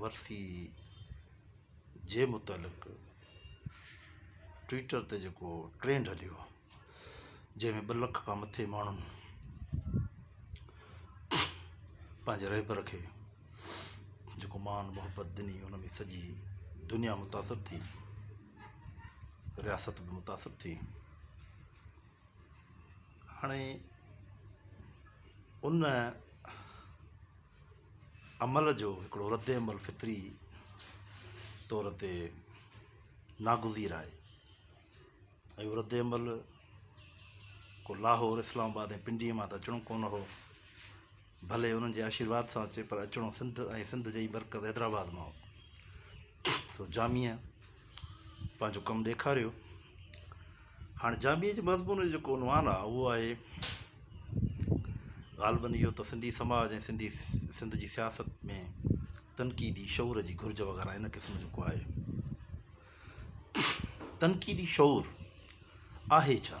ورثي جي متعلق ٽوئيٽر تي جيڪو ٽرينڊ هليو جنهن ۾ ٻه لک کان مٿي ماڻهن پنهنجي رهبر کي جيڪو مان محبت ڏني ان ۾ سڄي دنيا متاثر ٿي رياست به متاثر ٿي هاڻي ان عمل جو هڪڙو رد عمل فطري طور تي ناگزير آهي. اهو رد عمل ڪو لاهور، اسلام آباد ۽ پنڊيء مان ته اچڻو ڪونه هو، ڀلي انهن جي آشيرواد سان اچي پر اچڻو سنڌ ۽ سنڌ جي ئي مرڪز حيدرآباد مان هو. سو جاميء پنهنجو ڪم ڏيکاريو هاڻ جاميء جي مضمون جو جيڪو عنوان آهي اهو آهي غالباً اهو ته سنڌي سماج ۽ سنڌي سنڌ جي سياست ۾ تنقيدي شعور جي گهرج وغيره ان قسم جو ڪو آهي تنقيدي شعور آهي ڇا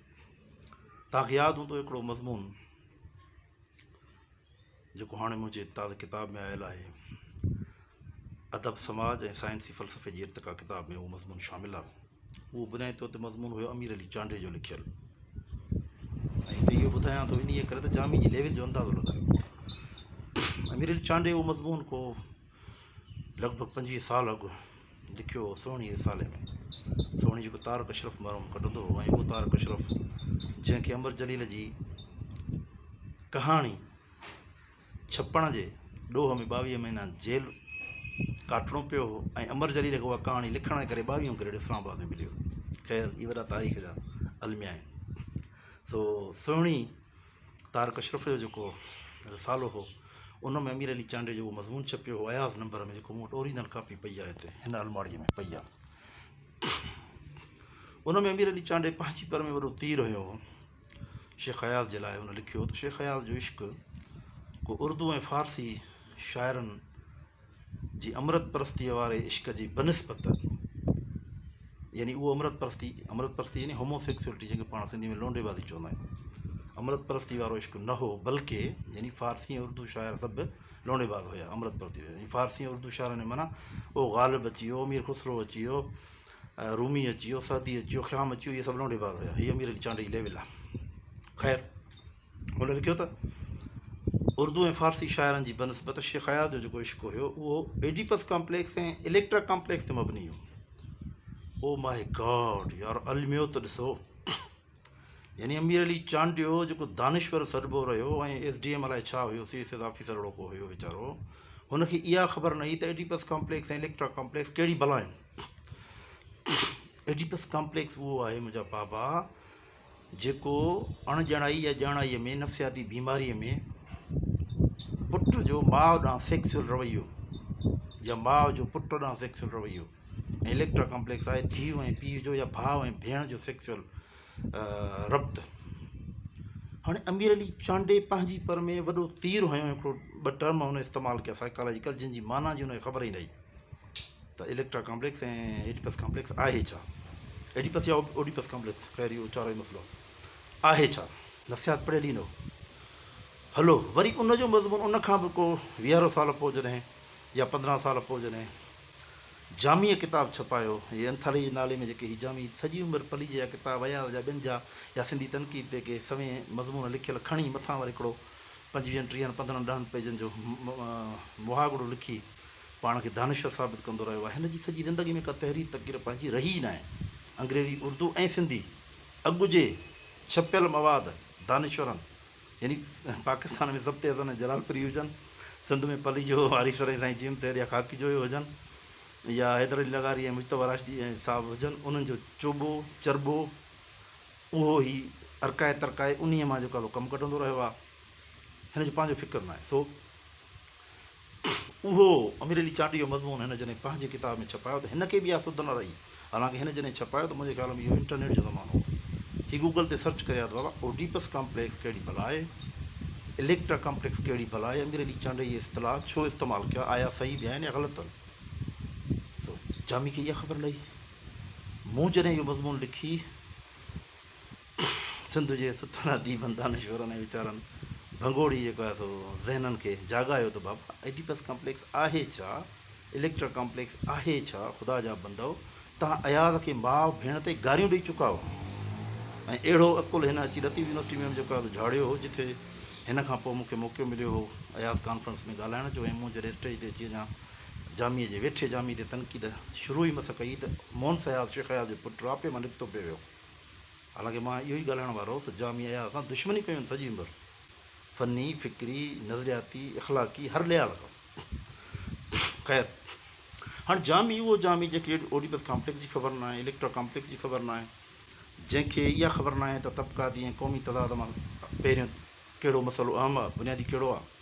توهانکي ياد هوندو هڪڙو مضمون جيڪو هاڻي منهنجي تازي ڪتاب ۾ آيل آهي ادب سماج ۽ سائنسي فلسفي جي ارتقا ڪتاب ۾ اهو مضمون شامل آهي اهو بنيادي طور تي مضمون هيو امير علي چانڊيو جو لکيل ۽ هتي اهو ٻڌايان ٿو انهيء ڪري ته جامي جي ليول جو اندازو لڳايو امير علي چانڊيو اهو مضمون ڪو لڳ ڀڳ پنجويهه سال اڳ لکيو هو سهڻي رسالي ۾ سهڻي جيڪو طارق اشرف مرحوم ڪڍندو هو ۽ اهو طارق اشرف جنهن کي امر جليل جي ڪهاڻي ڇپڻ جي ڏوهه ۾ ٻاويهه مهينا جيل ڪاٽڻو پيو هو ۽ امر جليل کي اها ڪهاڻي لکڻ جي ڪري ٻاويهون گريڊ اسلام آباد ۾ مليو خير اهي وڏا تاريخ جا الميا آهن سو سهڻي طارق اشرف جو جيڪو رسالو هو ان ۾ امير علي چانڊيو جو مضمون ڇپيو هو اياز نمبر ۾ جيڪو مون وٽ اوريجنل ڪاپي پئي آهي هتي هن الماڙيء ۾ پئي آهي ان ۾ امير علي چانڊي پنهنجي پر ۾ وڏو تير هنيو هو شيخ اياز جي لاء هن لکيو هو ته شيخ اياز جو عشق ڪو اردو ۽ فارسي شاعرن جي امرت پرستيء واري عشق جي بنسبت يعني اهو امرت پرستي، امرت پرستي يعني Homosexuality جنهن کي پاڻ سنڌي ۾ لونڊي بازي چوندا آهيون، امرت پرستي وارو عشق نه هو بلڪه يعني فارسي ۽ اردو شاعر سڀ لونڊي باز هيا امرت پرستي وارا يعني فارسي ۽ اردو شاعرن جي معنيٰ او غالب اچي ويو، امير خسرو اچي ويو، رومي اچي ويو، سعدي اچي ويو، خيام اچي ويو اهي سڀ لونڊي باز هيا هي اميرن جي چانڊ جي ليول آهي خير. هن لکيو ته، اردو ۽ فارسي شاعرن جي بنسبت شيخ اياز جو جيڪو عشق هيو، اهو ايڊيپس ڪامپليڪس ۽ اليڪٽرا ڪامپليڪس تي مبني هيو. او ماء گاڊ! يار الميو ته ڏسو! يعني امير علي چانڊيو جيڪو دانشور سڏبو رهيو ۽ ايس ڊي ايم الائي ڇا هيو، سي ايس ايس آفيسر اهڙو ڪو هيو ويچارو، هن کي اها خبر نه هئي ته ايڊيپس ڪامپليڪس ۽ اليڪٽرا ڪامپليڪس ڪهڙي بلا آهن. ايڊيپس ڪامپليڪس اهو آهي منهنجا بابا! جيڪو اڻ ڄڻائي يا ڄاڻائيء ۾ نفسياتي بيماريء ۾ پٽ جو ماء ڏانهن سيڪسيل رويو يا ماء جو پٽ ڏانهن سيڪسيل رويو ۽ اليڪٽرا ڪامپليڪس آهي، ڌيء ۽ پيء جو يا ڀاء ۽ ڀيڻ جو سيڪسيل ربط. هاڻي امير علي چانڊئي پنهنجي پر ۾ وڏو تير هنيو ۽ هڪڙو ٻه ٽرم هن استعمال ڪيا سائيڪالاجيڪل جن جي معنيٰ جي هن کي خبر ئي نه هئي. ته اليڪٽرا ڪامپليڪس ۽ ايڊيپس ڪامپليڪس آهي ڇا؟ ايڊيپس يا اوڊيپس ڪامپليڪس خير اهو چارئون مسئلو آهي ڇا؟ نفسيات پڙهيل ئي نه هو. هلو وري ان جو مضمون ان کان به ڪو ويهارو سال پوء جڏهن يا پندرهن سال پوء جڏهن جاميء ڪتاب ڇپايو هي انٿالي جي نالي ۾ جيڪي هي جامي سڄي عمر پليجي جا ڪتاب اياز جا ٻين جا يا سنڌي تنقيد تي ڪي سوين مضمون لکيل کڻي مٿان وري هڪڙو پنجويهن ٽيهن پندرهن ڏهن پيجن جو مهاڳڙو لکي پاڻ کي دانشور ثابت ڪندو رهيو آهي. هن جي سڄي زندگي ۾ ڪا تحرير تقرير پنهنجي رهي ئي ناهي. انگريزي، اردو ۽ سنڌي اڳ جي ڇپيل مواد دانشورن يعني پاڪستان ۾ ضبط حسن ۽ جلال پري هجن، سنڌ ۾ پليجو، آريسر ۽ سائين جيمس هيڊ يا خاڪي جويو هجن يا حيدر علي لغاري ۽ مجتبيٰ راشدي صاحب هجن، انهن جو چوٻو چرٻو اهو هي ارڪائي ترڪائي انهيء مان جو ڪالهو ڪم ڪڍندو رهيو آهي. هن جو پنهنجو فڪر ناهي سو اهو امير علي چانڊيو جو مضمون هن جڏهن پنهنجي ڪتاب ۾ ڇپايو ته هن کي به اها سڌ نه رهي. حالانڪه هن جڏهن ڇپايو ته منهنجي خيال ۾ اهو انٽرنيٽ جو زمانو هو. هي گوگل تي سرچ ڪري آيو ته بابا اوڊيپس ڪامپليڪس ڪهڙي بلا آهي؟ اليڪٽرا ڪامپليڪس ڪهڙي بلا آهي؟ امير علي چانڊيو اهي اصطلاح ڇو استعمال ڪيا؟ آيا صحيح به آهن يا غلط آهن؟ سو جامي کي اها خبر نه هئي. مون جڏهن اهو مضمون لکي. سنڌ جي ستل اديبن، دانشورن ۽ ويچارن ڀنگوڙي جيڪو آهي سو ذهنن کي جاڳايو ته بابا ايڊيپس ڪمپليڪس آهي ڇا؟ اليڪٽرا ڪمپليڪس آهي ڇا؟ خدا جا بندؤ توهان اياز کي ماء ڀيڻ تي گاريون ڏئي چڪا هئا ۽ اهڙو عقل هن اچي لطيف يونيورسٽي ۾ جيڪو آهي سو جهاڙيو هو جتي هن کان پوء مون کي موقعو مليو هو اياز ڪانفرنس ۾ ڳالهائڻ جو ۽ مون جڏهن اسٽيج تي اچي اڃا جاميء جي ويٺي جامي تي تنقيد شروع ئي مس ڪئي ته مونس اياز شيخ اياز جي پٽ راپي مان نڪتو پئي ويو. حالانڪه مان اهو ئي ڳالهائڻ وارو هو ته جامي اياز سان دشمني ڪيون آهن سڄي عمر. فني، فڪري، نظرياتي، اخلاقي هر لحاظ کان. خير هاڻ جامي اهو جامي جنهن کي اوڊيپس ڪامپليڪس جي خبر ناهي، اليڪٽرا ڪامپليڪس جي خبر ناهي، جنهن کي اها خبر ناهي ته طبقاتي ۽ قومي تضاد مان پهريون ڪهڙو مسئلو اهم آهي، بنيادي ڪهڙو آهي.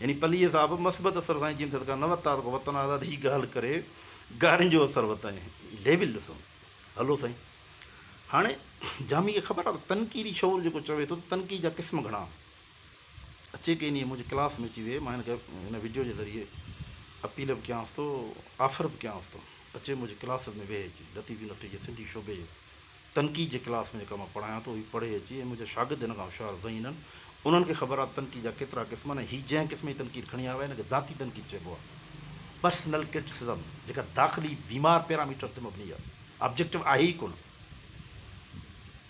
يعني پليء صاحب مثبت اثر سان جيئن ٿيس ڪا نه ورتا ته ڪو وتن آزاد هي گهل ڪري گارين جو اثر وتائين ليول ڏسون هلو سائين هاڻي جامي کي خبر آهي تنقيدي شعور جيڪو چوي ٿو ته تنقيد جا قسم گهڻا اچي ڪي ني منهنجي ڪلاس ۾ اچي ويهي مان هن ويڊيو جي ذريعي اپيل به ڪيانس ٿو آفر به ڪيانس ٿو اچي منهنجي ڪلاسز ۾ ويهي اچي لطيف يونيورسٽي جي سنڌي شعبي جو تنقيد جي ڪلاس ۾ جيڪا مان پڙهايان ٿو، هي پڙهي اچي ۽ منهنجا شاگرد هن کان هوشيار ذهين آهن. انهن کي خبر آهي ته تنقيد جا ڪيترا قسم آهن ۽ هي جنهن قسم جي تنقيد کڻي آيو آهي، ان کي ذاتي تنقيد چئبو آهي. Personal Criticism، جيڪا داخلي بيمار پيراميٽرن تي مبني آهي، Objective آهي ئي ڪونه.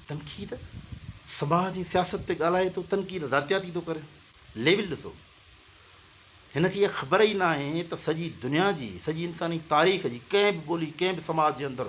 تنقيد سماج ۽ سياست تي ڳالهائي ٿو، تنقيد ذاتياتي ٿو ڪري. ليول ڏسو. هن کي اها خبر ئي ناهي ته سڄي دنيا جي، سڄي انساني تاريخ جي ڪنهن به ٻولي، ڪنهن به سماج جي اندر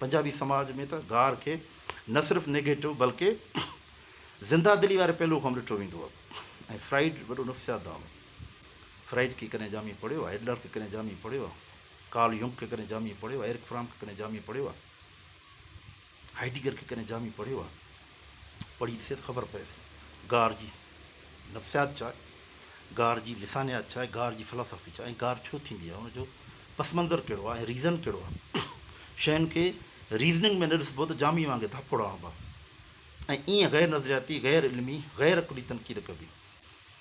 پنجابي سماج ۾ ته گار کي نه صرف نيگيٽو بلڪه زنده دلي واري پهلو کان به ڏٺو ويندو هو ۽ فرائيڊ وڏو نفسيات دان هو. فرائيڊ کي ڪڏهن جامي پڙهيو آهي، ايڊلر کي ڪڏهن جامي پڙهيو آهي، ڪارل يونگ کي ڪڏهن جامي پڙهيو آهي، ايرڪ فرام کي ڪڏهن جامي پڙهيو آهي، هائيڊيگر کي ڪڏهن جامي پڙهيو آهي. پڙهي ڏسي ته خبر پيس گار جي نفسيات ڇا آهي، گار جي لسانيات ڇا آهي، گار جي فلاسافي ڇا آهي ۽ گار ڇو ٿيندي آهي، ان جو پس منظر ڪهڙو آهي ۽ ريزن ڪهڙو آهي. شين کي ريزننگ ۾ نه ڏسبو ته جامي وانگي ڌاپوڙا هڻبا ۽ ايئن غير نظرياتي، غير علمي، غير عقلي تنقيد ڪبي.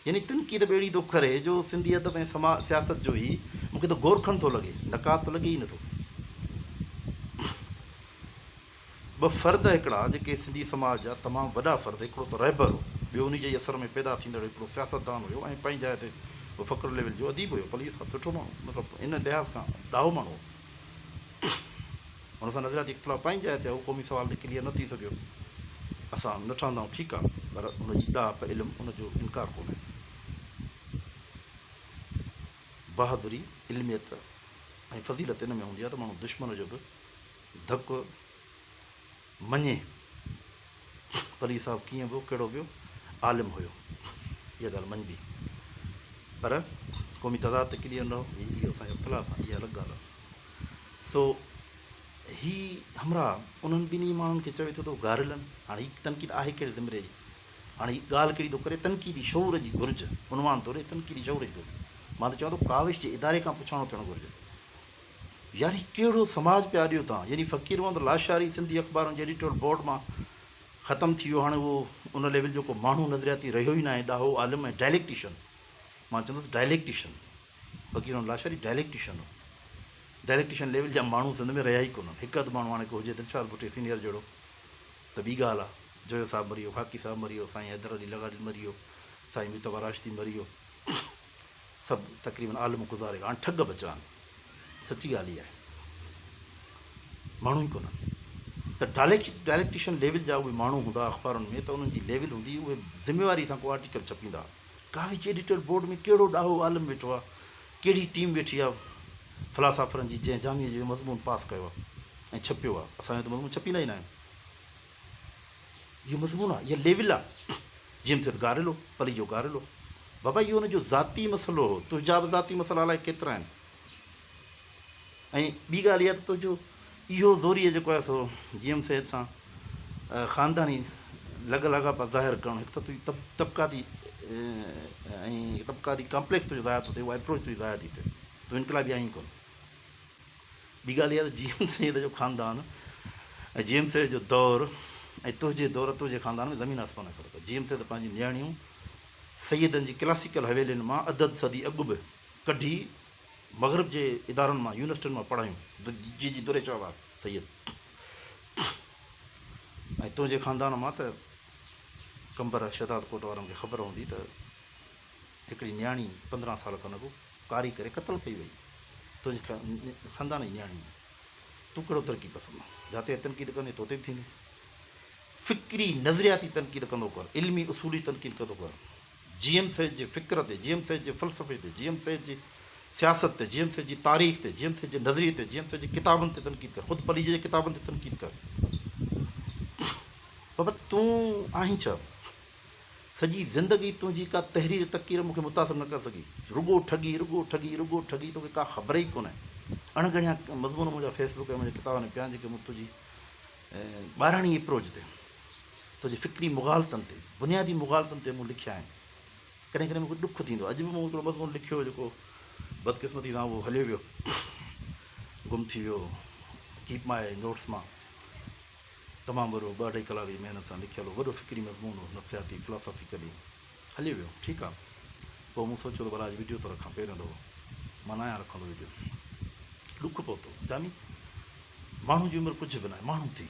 يعني تنقيد به اهڙي ٿو ڪري جو سنڌي ادب ۽ سما سياست جو هي مون کي ته گورکن ٿو لڳي، نقاد ته لڳي ئي نه ٿو. ٻه فرد هڪڙا جيڪي سنڌي سماج جا تمام وڏا فرد هڪڙو ته رهبر هو ٻيو انهي جي ئي اثر ۾ پيدا ٿيندڙ هڪڙو سياستدان هيو ۽ پنهنجي جاء تي به فخر ليول جو اديب هيو پليو صاحب سٺو ماڻهو مطلب ان لحاظ کان ڏاهو ماڻهو هو ان سان نظرياتي اختلاف پنهنجي جاء تي هو قومي سوال تي ڪليئر نه ٿي سگهيو اسان نه ٺهندائون ٺيڪ آ پر ان جي ڏاهپ علم ان جو انڪار ڪونهي بهادري علميت ۽ فضيلت ان ۾ هوندي آ ته ماڻهو دشمن جو به ڌڪ مڃي پليج صاحب ڪيئن به ڪهڙو به عالم هيو اها ڳالهه مڃبي پر قومي تضاد تي ڪليئر نه هو اهو اسان جو اختلاف آهي اها الڳ ڳالهه آهي سو هي همراهه انهن ٻنهي ماڻهن کي چوي ٿو ته گاريلن هاڻي هي تنقيد آهي ڪهڙي زمري جي هاڻي هي ڳالهه ڪهڙي ٿو ڪري تنقيدي شعور جي گهرج عنوان ٿو ڏي تنقيدي شعور جي گهرج مان ته چوان ٿو ڪاوش جي اداري کان پڇاڻو ٿيڻ گهرجي يار هي ڪهڙو سماج پيا ڏيو توهان يعني فقير محمد لاشاري سنڌي اخبارن جي ايڊيٽورل بورڊ مان ختم ٿي ويو هاڻي اهو ان ليول جو ڪو ماڻهو نظرياتي رهيو ئي ناهي ڏاهو عالم ۽ ڊائليڪٽيشن مان چوندس ڊائليڪٽيشن فقير محمد لاشاري ڊائليڪٽيشن هو ڊائليڪٽيشن ليول جا ماڻهو سنڌ ۾ رهيا ئي ڪونهن هڪ اڌ ماڻهو هاڻي ڪو هجي دلشاد ڀٽي سينيئر جهڙو ته ٻي ڳالهه آهي جويو صاحب مري ويو خاڪي صاحب مري ويو سائين حيدر علي لغاري مري ويو سائين مصطفيٰ راشدي مري ويو سڀ تقريبن عالم گذاري ويا آهن ٺڳ ٻچا آهن سچي ڳالهه اها آهي ماڻهو ئي ڪونهن ته ڊائليڪٽيشن ليول جا اهي ماڻهو هوندا اخبارن ۾ ته انهن جي ليول هوندي اهي ذميواري سان ڪو آرٽيڪل ڇپيندا ڪاوچ ايڊيٽر بورڊ ۾ ڪهڙو ڏاهو عالم ويٺو آهي ڪهڙي ٽيم ويٺي آهي فلاسافرن جي جنهن جامعي جو مضمون پاس ڪيو آهي ۽ ڇپيو آهي اسان جو ته مضمون ڇپيندا ئي ناهن اهو مضمون آ اها ليول آ جيم سيد گاريلو پلي جو گاريلو بابا اهو ان جو ذاتي مسئلو هو تنهنجا به ذاتي مسئلا الائي ڪيترا آهن ۽ ٻي ڳالهه اها ته تنهنجو اهو زوريء جيڪو آهي سو جيم سيد سان خانداني لڳ لاڳاپا ظاهر ڪرڻ هڪ ته تنهنجي طبقاتي ۽ طبقاتي ڪامپليڪس تنهنجو ضايع ٿو ٿئي اهو اپروچ تنهنجي ضايع ٿي ٿئي تون انقلابي آهين ڪونه ٻي ڳالهه اها ته جي ايم سيد جو خاندان ۽ جي ايم سيد جو دور ۽ تنهنجي دور ۽ تنهنجي خاندان ۾ زمين آسمان جو فرق آهي. جي ايم سيد پنهنجي نياڻيون سيدن جي ڪلاسيڪل حويلين مان ادد صدي اڳ به ڪڍي مغرب جي ادارن مان يونيورسٽين مان پڙهايون. جي جي دري شهباز سيد ۽ تنهنجي خاندان مان ته قمبر شهداد ڪوٽ وارن کي خبر هوندي ته هڪڙي نياڻي پندرهن سال کن اڳ ڪاري ڪري قتل ڪئي وئي تنهنجي خاندان جي نياڻي تون ڪهڙو ترقي پسند جاتي تنقيد ڪندي توتي به ٿيندي فڪري نظرياتي تنقيد ڪندو ڪر علمي اصولي تنقيد ڪندو ڪر جي ايم سيد جي فڪر تي جي ايم سيد جي فلسفي تي جي ايم سيد جي سياست تي جي ايم سيد جي تاريخ تي جي ايم سيد جي نظريي تي جي ايم سيد جي ڪتابن تي تنقيد ڪر خود پليجي جي ڪتابن تي تنقيد ڪر بابا تون آهين ڇا سڄي زندگي تنهنجي ڪا تحرير تقرير مون کي متاثر نه ڪري سگهي. رڳو ٺڳي، رڳو ٺڳي، رڳو ٺڳي توکي ڪا خبر ئي ڪونهي. اڻڳڻيا مضمون منهنجا فيس بڪ ۽ منهنجي ڪتابن ۾ پيا آهن جيڪي مون تنهنجي ٻاراڻي اپروچ تي، تنهنجي فڪري مغالطن تي، بنيادي مغالطن تي مون لکيا آهن. ڪڏهن ڪڏهن مون کي ڏک ٿيندو آهي. اڄ به مون هڪڙو مضمون لکيو هو جيڪو بدقسمتي سان اهو هليو ويو، گم ٿي ويو، ڪيپ ماء نوٽس مان. تمام وڏو، ٻه اڍائي ڪلاڪ جي محنت سان لکيل اهو وڏو فڪري مضمون هو، نفسياتي، Philosophical، ئي هلي ويو. ٺيڪ آ. پوء مون سوچيو ته ڀلا اڄ وڊيو ٿو رکان، پهريون دفعو مان ناهيان رکندو وڊيو. ڏک پهتو. جاني، ماڻهو جي عمر ڪجهه به ناهي، ماڻهو ٿي،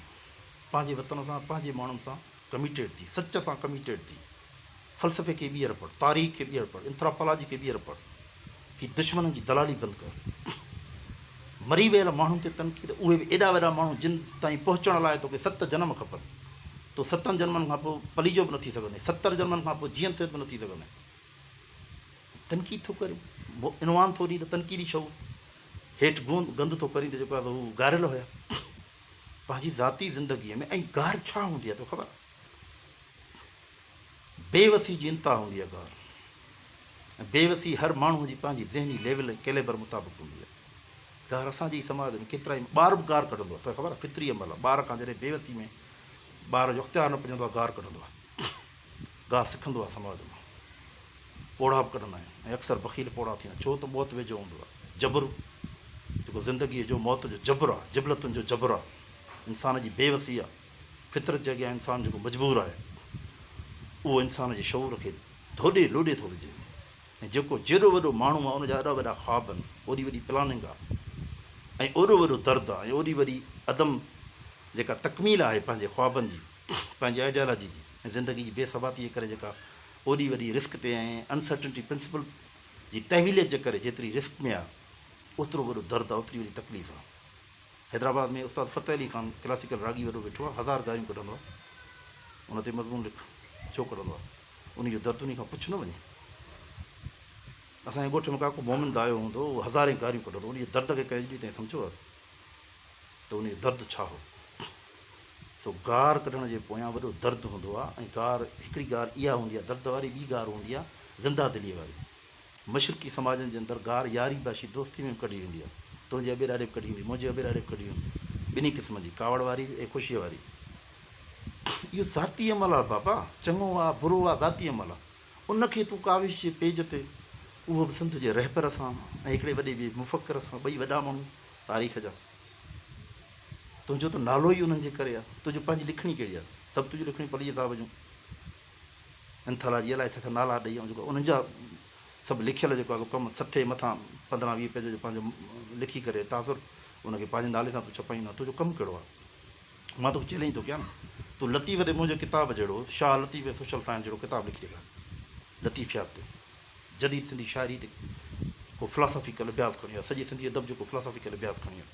پنهنجي وطن سان، پنهنجي ماڻهن سان ڪميٽيڊ ٿي، سچ سان ڪميٽيڊ ٿي. فلسفي کي ٻيهر پڙهه، تاريخ کي ٻيهر پڙهه، انٿراپالاجي کي ٻيهر پڙهه. هي دشمنن جي دلالي بند ڪر. مري ويل ماڻهن تي تنقيد، اهي به ايڏا وڏا ماڻهو جن تائين پهچڻ لاء توکي ست جنم کپن. تون ستن جنمن کان پوء پليجو به نه ٿي سگهندين. ستر جنمن کان پوء جيئن سيد به نه ٿي سگهندين. تنقيد ٿو ڪرين. عنوان ٿو ڏئين ته تنقيدي شعور. هيٺ گند ٿو ڪرين ته جيڪو آهي سو هو گاريل هيا. پنهنجي ذاتي زندگيء ۾ ائين گار ڇا هوندي آهي تو کي خبر آهي؟ بيوسي جي انتها هوندي آهي ڳالهه ۽ بيوسي هر ماڻهو جي پنهنجي ذهني ليول ۽ ڪيليبر مطابق هوندي آهي گار اسان جي ئي سماج ۾ ڪيترائي ٻار به گار ڪڍندو آهي توکي خبر آهي فطري عمل آهي ٻار کان جڏهن بيوسي ۾ ٻار جو اختيار نه پڄندو آهي گار ڪڍندو آهي گار سکندو آهي سماج مان پوڙها به ڪڍندا آهن ۽ اڪثر بخيل پوڙها ٿيندا آهن ڇو ته موت ويجهو هوندو آهي جبر جيڪو زندگيء جو موت جو جبر آهي جبلتن جو جبر آهي انسان جي بيوسي آهي فطرت جي اڳيان انسان جيڪو مجبور آهي، اهو انسان جي شعور کي ڌوڏي لوڏي ٿو وجهي ۽ جيڪو جيڏو وڏو ماڻهو آهي، ان جا ايڏا وڏا خواب آهن، اوڏي وڏي پلاننگ آهي ۽ اوڏو وڏو درد آهي ۽ اوڏي وڏي عدم جيڪا تڪميل آهي پنهنجي خوابن جي، پنهنجي آئيڊيالاجي جي ۽ زندگي جي بي ثباتيء جي ڪري جيڪا اوڏي وڏي رسڪ تي ۽ انسرٽنٽي پرنسپل جي تحويليت جي ڪري جيتري رسڪ ۾ آهي، اوترو وڏو درد آهي، اوتري وڏي تڪليف آهي. حيدرآباد ۾ استاد فتح علي خان ڪلاسيڪل راڳي وڏو ويٺو آ هزار گاريون ڪڍندو آ ان تي مضمون لک ڇو ڪڍندو آ انهي جو درد انهي کان پڇ نه وڃي اسان جي ڳوٺ ۾ ڪا ڪو مومن دايو هوندو هو هزارين گاريون ڪڍندو انهي جي درد کي ڪنهن جي تائين سمجهيو آ ته انهي جو درد ڇا هو سو گار ڪڍڻ جي پويان وڏو درد هوندو آ ۽ گار هڪڙي گار اها هوندي آ درد واري ٻي گار هوندي آ زنده دلي واري مشرقي سماجن جي اندر گار ياري باشي دوستي ۾ به ڪڍي ويندي آهي. تنهنجي اٻيراڙي به ڪڍي ويندي، منهنجي اٻيراڙي به ڪڍي ويندي. ٻنهي قسمن جي، ڪاوڙ واري به ۽ خوشيء واري به. اهو ذاتي عمل آهي بابا. چڱو آ، برو آ، ذاتي عمل آ. ان کي تون ڪاوش جي پيج تي، اهو به سنڌ جي رهبر سان ۽ هڪڙي وڏي ٻئي مفڪر سان، ٻئي وڏا ماڻهو تاريخ جا. تنهنجو ته نالو ئي انهن جي ڪري آ. تنهنجي پنهنجي لکڻي ڪهڙي آ؟ سڀ تنهنجون لکڻيون پليجي صاحب جون. انٿالاجي الائي ڇا ڇا نالا ڏئي ۽ جيڪو انهن جا سڀ لکيل جيڪو آهي ڪم سٿي مٿان پندرهن ويهه پيج جو پنهنجو لکي ڪري تاثر ان کي پنهنجي نالي سان تون ڇپائين ها تنهنجو ڪم ڪهڙو آهي مان توکي چئلينج ٿو ڪيان تون لطيف تي منهنجي ڪتاب جهڙو شاهه لطيف ۽ سوشل سائنس جهڙو ڪتاب لکي ڏيکار لطيفيات تي جديد سنڌي شاعري تي ڪو فلاسافيڪل اڀياس کڻي آ سڄي سنڌي ادب جو ڪو فلاسافيڪل اڀياس کڻي آ.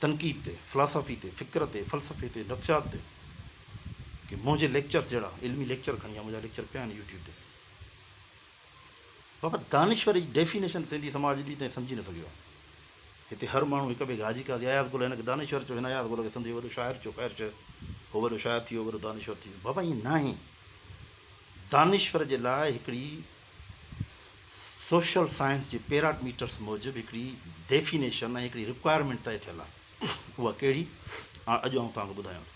تنقيد تي، فلاسافي تي، فڪر تي، فلسفي تي، نفسيات تي ڪي منهنجي ليڪچرز جهڙا علمي ليڪچر کڻي آ، منهنجا ليڪچر پيا آهن يوٽيوب تي. بابا دانشور جي ڊيفينيشن سنڌي سماج اڄ ڏينهن تائين سمجهي نه سگهيو آهي. هتي هر ماڻهو هڪ ٻئي کي حاجي قاضي اياز گل هن کي دانشور چيو هن اياز گل کي سنڌ جو وڏو شاعر چيو خير شير هو وڏو شاعر ٿي ويو وڏو دانشور ٿي ويو بابا ائين ناهي دانشور جي لاء هڪڙي سوشل سائنس جي پيراڊميٽرس موجب هڪڙي ڊيفينيشن ۽ هڪڙي رڪوائرمينٽ طئي ٿيل آهي. اها ڪهڙي آهي اڄ آئون توهان کي ٻڌايان ٿو.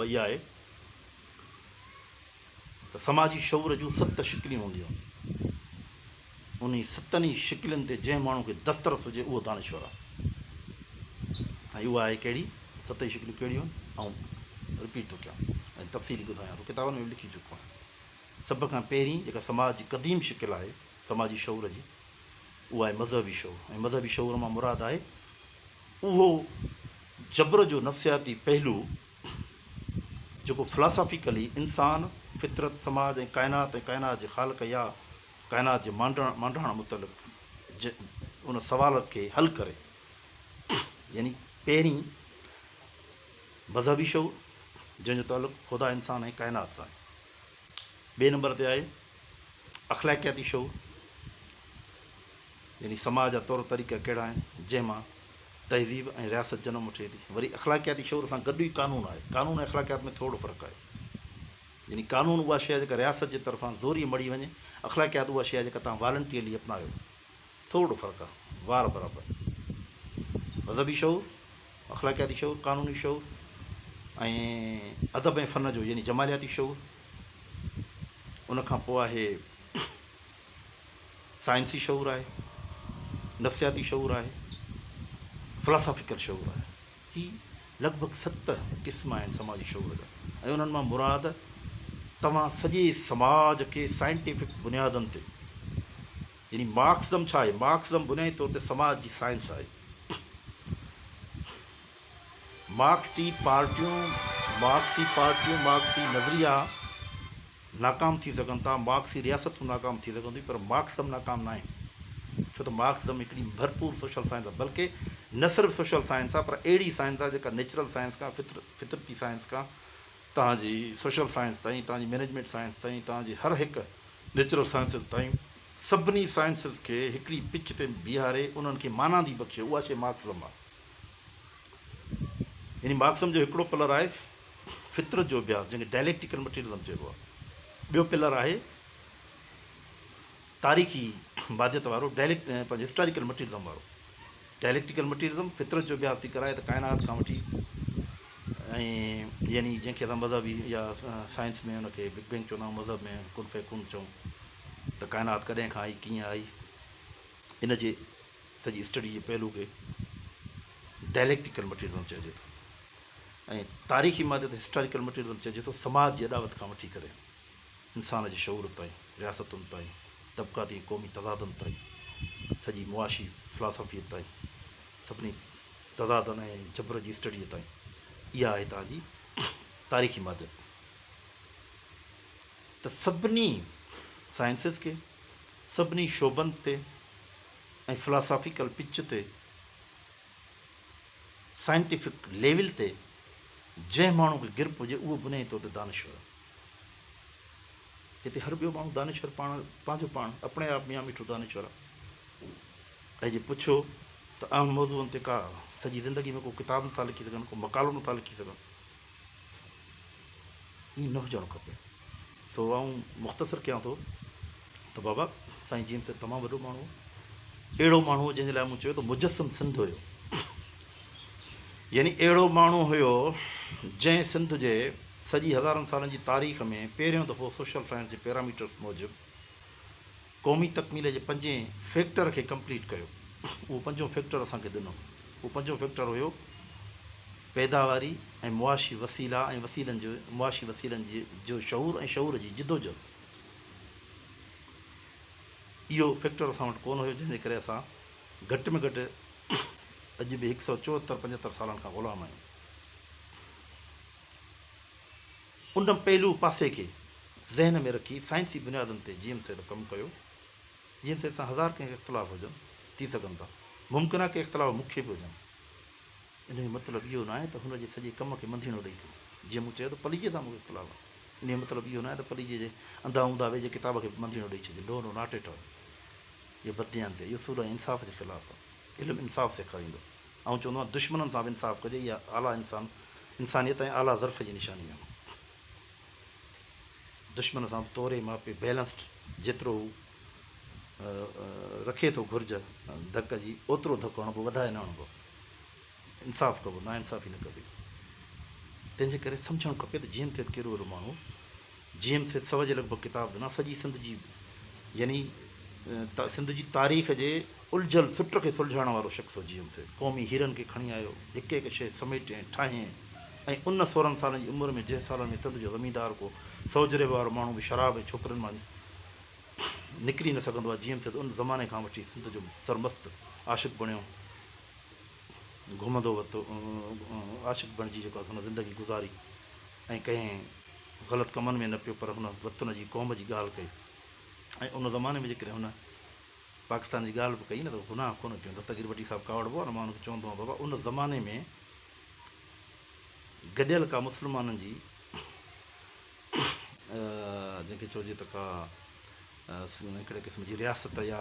اها اها آهي ته سماجي شعور جون ست شڪليون هونديون آهن. انهي ستن ئي شڪلين تي جنهن ماڻهو کي دسترس هجي اهو دانشور آهي. ۽ اها آهي ڪهڙي؟ ست ئي شڪليون ڪهڙيون آهن؟ آئون رپيٽ ٿو ڪيان ۽ تفصيلي ٻڌايان ٿو. ڪتابن ۾ به لکي چڪو آهيان. سڀ کان پهرين جيڪا سماج جي قديم شڪل آهي سماجي شعور جي اهو آهي مذهبي شعور ۽ مذهبي شعور مان مراد آهي اهو جبر جو نفسياتي پهلو جيڪو فلاسافيڪلي انسان، فطرت، سماج ۽ ڪائنات ۽ ڪائنات جي خالق يا ڪائنات جي مانڊاڻ متعلق ان سوال کي حل ڪري يعني پهرين مذهبي شعور جنهن جو تعلق خدا، انسان ۽ ڪائنات سان آهي. ٻئي نمبر تي آهي اخلاقياتي شعور يعني سماج جا طور طريقا ڪهڙا آهن جنهن مان تهذيب ۽ رياست جنم وٺي ٿي وري اخلاقياتي شعور سان گڏ ئي قانون آهي قانون ۽ اخلاقيات ۾ ٿورڙو فرق آهي يعني قانون اها شيء آهي جيڪا رياست جي طرفان زوري مڙهي وڃي اخلاقيات اها شيء آهي جيڪا توهان والنٽيئرلي اپنايو ٿورڙو فرق آهي وار برابر مذهبي شعور اخلاقياتي شعور، قانوني شعور ۽ ادب ۽ فن جو يعني جمالياتي شعور، ان کان پوء آهي سائنسي شعور آهي، نفسياتي شعور آهي، Philosophical شعور آهي. هي لڳ ڀڳ ست قسم آهن سماجي شعور جا ۽ انهن مان مراد توهان سڄي سماج کي سائنٽيفڪ بنيادن تي، يعني مارڪسزم ڇا آهي؟ مارڪسزم بنيادي طور تي سماج جي سائنس آهي. مارڪسٽي پارٽيون، مارڪسي پارٽيون، مارڪسي نظريا ناڪام ٿي سگهن ٿا، مارڪسي رياستون ناڪام ٿي سگهن ٿيون پر مارڪسزم ناڪام ناهي ڇو ته مارڪسزم هڪڙي ڀرپور سوشل سائنس آهي بلڪه نه صرف سوشل سائنس آهي پر اهڙي سائنس آهي جيڪا نيچرل سائنس کان فطرتي سائنس کان توهان جي سوشل سائنس تائين، توهان جي مئنيجمينٽ سائنس تائين، توهان جي هر هڪ نيچرل سائنسز تائين، سڀني سائنسز کي هڪڙي پچ تي بيهاري انهن کي مانادي بخشي اها شيء مارڪسزم آهي. يعني مارڪسزم جو هڪڙو پلر آهي فطرت جو اڀياس جنهن کي ڊائليڪٽيڪل مٽيريلزم چئبو آهي، ٻيو پلر آهي. تاريخي ماديت وارو ڊائليڪٽ Historical Materialism وارو Dialectical Materialism فطرت جو اڀياس ٿي ڪرائي ته ڪائنات کان وٺي ۽ يعني جنهن کي اسان مذهبي يا سائنس ۾ ان کي بگ بينگ چوندا آهيون مذهب ۾ ڪن فيڪون چئون ته ڪائنات ڪڏهن کان آئي ڪيئن آئي ان جي سڄي اسٽڊي جي پهلو کي Dialectical Materialism چئجي ٿو ۽ تاريخي ماديت Historical Materialism چئجي ٿو سماج جي اڏاوت کان وٺي ڪري انسان جي شعور تائين، رياستن تائين، طبقاتي ۽ قومي تضادن تائين، سڄي معاشي فلاسافيء تائين، سڀني تضادن ۽ جبر جي اسٽڊيء تائين. اها آهي توهان جي تاريخي ماديت. ته سڀني سائنسز کي، سڀني شعبن تي ۽ فلاسافيڪل پچ تي، سائنٽيفڪ ليول تي جنهن ماڻهو کي گرپ هجي، اهو بنيائي طور تي دانشور آهي. هتي هر ٻيو ماڻهو دانشور پاڻ پنهنجو پاڻ اپڻي آپ ميان ميٺو دانشور آ ۽ جي پڇو ته اهم موضوعن تي ڪا سڄي زندگي ۾ ڪو ڪتاب نٿا لکي سگهن ڪو مقالو نٿا لکي سگهن ائين نه هجڻ کپي سو آئون مختصر ڪيان ٿو ته بابا سائين جيمس ته تمام وڏو ماڻهو هو اهڙو ماڻهو جنهن جي لاء مون چيو ته مجسم سنڌ هيو يعني اهڙو ماڻهو هيو جنهن سنڌ جي سڄي هزارن سالن جي تاريخ ۾ پهريون دفعو سوشل سائنس جي پيراميٽرس موجب قومي تڪميل جي پنجين فيڪٽر کي ڪمپليٽ ڪيو اهو پنجون فيڪٽر اسان کي ڏنو اهو پنجون فيڪٽر هيو پيداواري ۽ معاشي وسيلا ۽ وسيلن جو معاشي وسيلن جي جو شعور ۽ شعور جي جدوجهد اهو فيڪٽر اسان وٽ ڪونه هيو، جنهن جي ڪري اسان گهٽ ۾ گهٽ اڄ به هڪ سئو چوهتر پنجهتر سالن کان غلام آهيون. ان پهلو پاسي کي ذهن ۾ رکي سائنسي بنيادن تي جي ايم سيد ڪم ڪيو. جي ايم سيد سان هزار ڪنهن کي اختلاف هجن ٿي سگهن ٿا، ممڪن آهي ڪي اختلاف مون کي به هجن. ان جو مطلب اهو ناهي ته هن جي سڄي ڪم کي منڌيڻو ڏئي ٿو. جيئن مون چيو ته پليجي سان مون کي اختلاف آهي. ان جو مطلب اهو ناهي ته پليجي جي انڌا اونداهه ويجهي ڪتاب کي به منڌيڻو ڏئي ڇڏجي. No no not at all. اهو بدديانتي آهي. اهو سورهه ۽ انصاف جي خلاف آهي. علم انصاف سيکاريندو. آئون چوندو آهيان دشمنن سان به انصاف ڪجي. اها اعليٰ انسان انسانيت ۽ اعليٰ ظرف جي نشاني آهي. دشمن سان به توري ماپي بيلنسڊ جيترو هو رکي ٿو گهرج ڌڪ جي اوترو ڌڪ هڻبو وڌائي نه هڻبو. انصاف ڪبو، ناانصافي نه ڪبي. تنهن جي ڪري سمجهڻ کپي ته جي ايم سيد ڪهڙو اهڙو ماڻهو هو. جي ايم سيد سوء جي لڳ ڀڳ ڪتاب ڏنا. سڄي سنڌ جي يعني سنڌ جي تاريخ جي الجهيل سٽ کي سلجهائڻ وارو شخص هو جي ايم سيد. قومي هيرن کي کڻي آيو، هڪ هڪ شيء سميٽي ۽ ٺاهي ۽ ان سورهن سالن جي عمر ۾ جنهن سالن ۾ سنڌ جو زميندار ڪو سوجهري وارو ماڻهو به شراب ۽ ڇوڪرين مان نڪري نه سگهندو آهي جيئن ٿئي ته ان زماني کان وٺي سنڌ جو سرمست عاشق بڻيو گهمندو وتو عاشق بڻجي جيڪو هن زندگي گذاري ۽ ڪنهن غلط ڪمن ۾ نه پيو پر هن وطن جي قوم جي ڳالهه ڪئي ۽ ان زماني ۾ جيڪڏهن هن پاڪستان جي ڳالهه به ڪئي نه ته گناهه ڪونه ڪيو دستگير بٽي صاحب ڪاوڙبو آهي نه مان هن چوندو آهيان بابا ان زماني ۾ گڏيل ڪا مسلمانن جي جنهن کي چئجي ته ڪا هڪڙي قسم جي رياست يا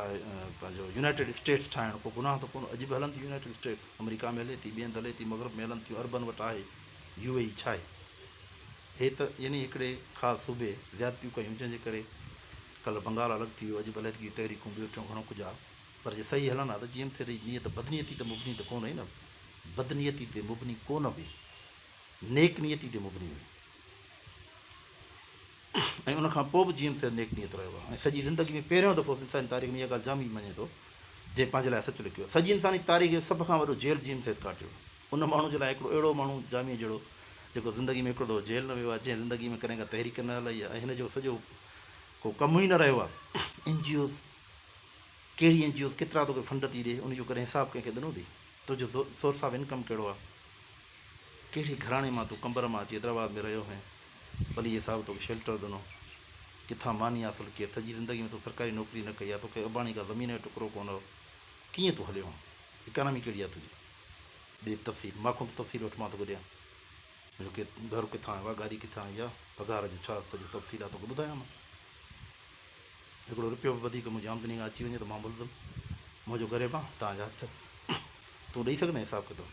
پنهنجو يونائيٽيڊ اسٽيٽس ٺاهڻ ڪو گناهه ته ڪونه اڄ به هلن ٿيون يونائيٽيڊ اسٽيٽس آمريڪا ۾ هلي ٿي ٻئي هنڌ هلي ٿي مغرب ۾ هلن ٿيون عربن وٽ آهي يو اي اي ڇا آهي هي ته يعني هڪڙي خاص صوبي زيادتيون ڪيون جنهن جي ڪري ڪل بنگال الڳ ٿي ويو اڄ به علحدگي تحريڪون ٻيو ٽيون گهڻو ڪجهه آهي پر جي صحيح هلن ها ته جي ايم سي ري نيت بدنيتي ته مبني ته ڪونه هئي نه بدنيتي تي مبني ڪونه هئي نيڪ نيتي تي مبني هئي ۽ ان کان پوء به جيئن سيد نيڪ نيت رهيو آهي ۽ سڄي زندگي ۾ پهريون دفعو سنڌ سائين تاريخ ۾ اها ڳالهه جامي مڃي ٿو جنهن پنهنجي لاء سچ لکيو سڄي انساني تاريخ جو سڀ کان وڏو جيل جيئن سيد ڪاٽيو ان ماڻهو جي لاء هڪڙو اهڙو ماڻهو جامي جهڙو جيڪو زندگي ۾ هڪڙو دفعو جيل نه ويو آهي جنهن زندگي ۾ ڪڏهن ڪا تحريڪ نه هلائي آهي ۽ هن جو سڄو ڪو ڪم ئي نه رهيو آهي اين جي اوز ڪهڙي اين جي اوز ڪيترا توکي فنڊ ٿي ڏي ان جو ڪڏهن حساب ڪنهن کي ڏنو اٿئي تنهنجو سورس آف انڪم ڪهڙو آهي ڪهڙي گهراڻي مان تون قمبر مان اچي حيدرآباد ۾ رهيو هئين. پليء صاحب توکي شيلٽر ڏنو. ڪٿان ماني حاصل ڪيئي. سڄي زندگي ۾ تون سرڪاري نوڪري نه ڪئي آ. توکي اباڻي ڪا زمين جو ٽڪرو ڪونه هو. ڪيئن تون هليو هئين. اڪانامي ڪهڙي آ تنهنجي. ڏي به تفصيل. مان کان به تفصيل وٺ مان توکي ڏيان. منهنجو ڪي گهر ڪٿان آيو آ. گاڏي ڪٿان آئي آ. پگهار جو ڇا سڄو تفصيل آ توکي ٻڌايام. هڪڙو رپيو به وڌيڪ منهنجي آمدني کان اچي وڃي ته مان ملزم منهنجو گريبان توهان جا هٿ تون ڏئي سگهندين حساب ڪتاب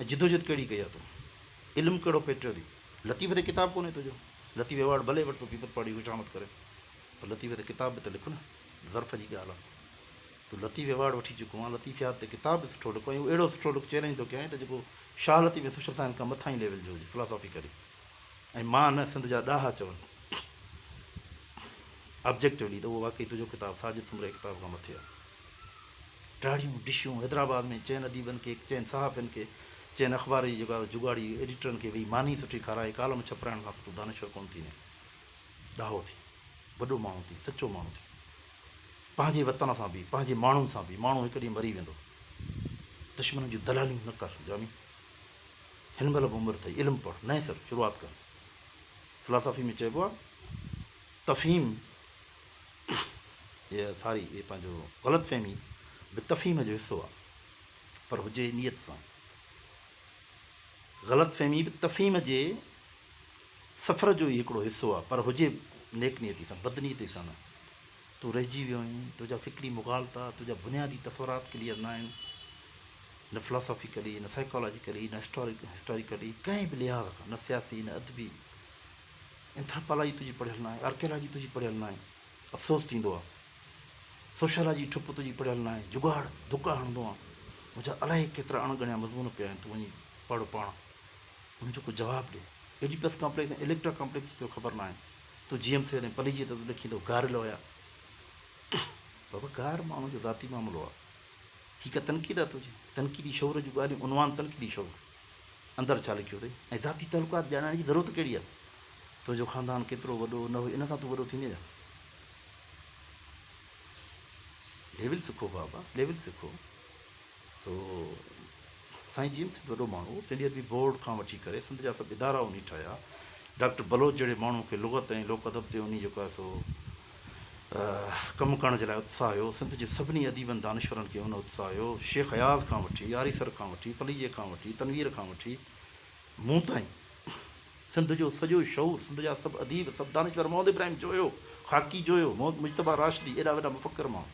۽ جدوجهد ڪهڙي ڪئي آ تون علم ڪهڙو پيٽيو ٿي لطيف تي ڪتاب ڪونهي تنهنجو لطيف ايوارڊ ڀلي وٺ تون پيپر پاڙي خوشامد ڪرين پر لطيف تي ڪتاب به ته لک نه ظرف جي ڳالهه آ تون لطيف ايوارڊ وٺي چڪو آ لطيفيات تي ڪتاب به سٺو لک ۽ اهڙو سٺو لک چئلينج ٿو ڪيائين ته جيڪو شاهه لطيف ۽ سوشل سائنس کان مٿاهين ليول جو هجي فلاسافي ڪري ۽ مان نه سنڌ جا ڏاها چون آبجيڪٽولي ته اهو واقعي تنهنجو ڪتاب ساجد سومري جي ڪتاب کان مٿي آهي. ڊاڙهيون ڊشون حيدرآباد ۾ چئن اديبن کي، چئن صحافين کي، چئن اخبار جي جيڪا جوڳاڙي ايڊيٽرن کي ويهي ماني سٺي کارائي ڪالم ڇپرائڻ کان پوء تون دانشور ڪونه ٿيندين. ڏاهو ٿي. وڏو ماڻهو ٿي. سچو ماڻهو ٿي. پنهنجي وطن سان بيهه. پنهنجي ماڻهن سان بيهه. ماڻهو هڪ ڏينهن مري ويندو. دشمنن جون دلاليون نه ڪر جامي. هن مهل به عمر ٿئي علم پڙهه نئين سر شروعات ڪر فلاسافي ۾ چئبو آهي تفهيم اهي ساري اهي پنهنجو غلط فهمي به تفهيم جو حصو آهي پر هجي نيت سان غلط فهمي به تفهيم جي سفر جو ئي هڪڙو حصو آهي پر هجي نيڪ نيتي سان بدنيتي سان نه تون رهجي ويو آهين، تنهنجا فڪري مغالطا، تنهنجا بنيادي تصورات ڪليئر نه آهن، نه فلاسافيڪلي، نه سائيڪالاجيڪلي، نه هسٽاريڪلي، ڪنهن به لحاظ کان، نه سياسي، نه ادبي. اينٿراپالاجي تنهنجي پڙهيل ناهي، آرڪيالاجي تنهنجي پڙهيل ناهي، افسوس ٿيندو آهي. سوشالاجي ٺپ تنهنجي پڙهيل ناهي، جگاڙ، ڌڪا هڻندو آهن. منهنجا الائي ڪيترا اڻ ڳڻيا مضمون پيا آهن، تون وڃي پڙهه پاڻ، انهن جو ڪو جواب ڏي. ايڊيپس ڪامپليڪس ۽ اليڪٽرا ڪامپليڪس جي توکي خبر ناهي. تون جيئن به ٿيو ۽ پليجيء ته تون ڏکين ٿو گار لويا. بابا گار ماڻهوء جو ذاتي معاملو آ. هي ڪا تنقيد آ تنهنجي؟ تنقيدي شعور جون ڳالهيون عنوان تنقيدي شعور اندر ڇا لکيو اٿئي ۽ ذاتي تعلقات ڄاڻائڻ جي ضرورت ڪهڙي آ؟ تنهنجو خاندان ڪيترو وڏو نه هو ان سان تون وڏو ٿيندين ڇا؟ ليول سکو بابا ليول سکو. سو سائين جيئن به سنڌ وڏو ماڻهو هو، سنڌي ادبي بورڊ کان وٺي ڪري سنڌ جا سڀ ادارا انهي ٺاهيا. ڊاڪٽر بلوچ جهڙي ماڻهو کي لغت ۽ لوڪ ادب تي انهي جيڪو آهي سو ڪم ڪرڻ جي لاء اتساهه هيو. سنڌ جي سڀني اديبن دانشورن کي ان اتساهه هيو. شيخ اياز کان وٺي، آريسر کان وٺي، پليجي کان وٺي، تنوير کان وٺي مون تائين. سنڌ جو سڄو شعور، سنڌ جا سڀ اديب، سڀ دانشور، محمد ابراهيم جويو، خاڪي جويو، محمد مجتبيٰ راشدي، ايڏا وڏا مفڪر ماڻهو،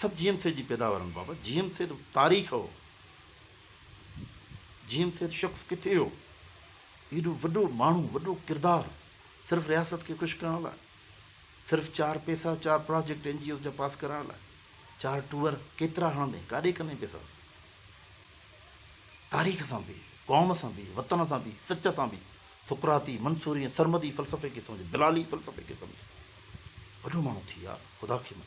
سڀ جي ايم سيد جي پيداوارن بابت، جي ايم سيد تاريخ هو، جي ايم سيد شخص ڪٿي هو، ايڏو وڏو ماڻهو، وڏو ڪردار، صرف رياست کي خوش ڪرڻ لاء، صرف چار پئسا، چار پراجيڪٽ اين جي اوز جا پاس ڪرائڻ لاء، چار ٽوئر ڪيترا هڻندين، ڪاڏي ڪندين پئسا، تاريخ سان به، قوم سان به، وطن سان به، سچ سان به، سقراطي، منصوري ۽ سرمدي فلسفي کي سمجهه، بلالي فلسفي کي سمجهه. وڏو ماڻهو ٿي يار، خدا کي مڃ.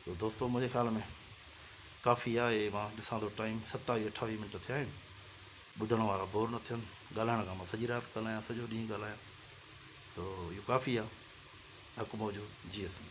سو دوستو منهنجي خيال ۾ ڪافي آهي، مان ڏسان ٿو ٽائيم ستاويهه اٺاويهه منٽ ٿيا آهن، ٻڌڻ وارا بور نه ٿين، ڳالهائڻ کان مان سڄي رات ڳالهايان، سڄو ڏينهن ڳالهايان، سو اهو ڪافي آهي. حق موجود، جيئي سنڌ.